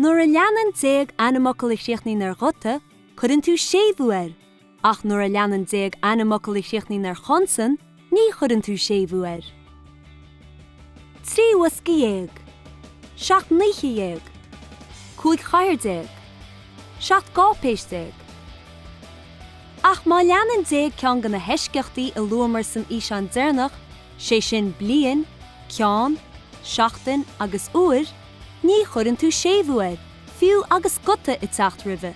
Nuair a leanann déag ainmfhocal a chríochnaíonn ar ghuta, cuireann tú séimhiú air, ach nuair a leanann déag ainmfhocal a chríochnaíonn ar chonsan, ní chuireann tú séimhiú air. Trí bhosca dhéag. Seacht n-oíche dhéag. Cúig chathaoir déag. Seacht gcáipéis déag. Ach má leanann déag ceann de na heisceachtaí a luamar san fhíseán deireanach, sé sin bliain, ceann, seachtain agus uair, ní chuireann tú séimhiú air, fiú agus guta ag teacht roimhe.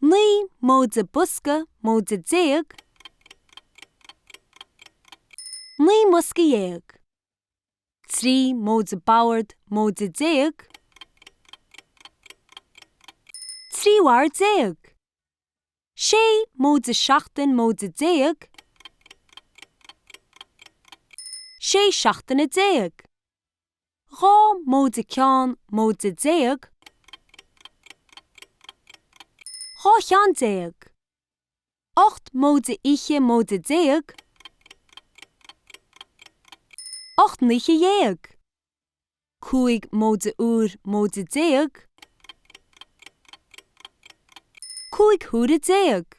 Naoi móide bosca móide déag. Naoi mbosca dhéag. Trí móide bord móide déag. Trí bhord déag. Sé móide seachtain móide déag. Sé seachtaine déag. Dhá móide ceann móide déag. Dhá cheann déag. Ocht móide oíche móide déag. Ocht n-oíche dhéag. Cúig móide uair móide déag. Cúig huaire déag.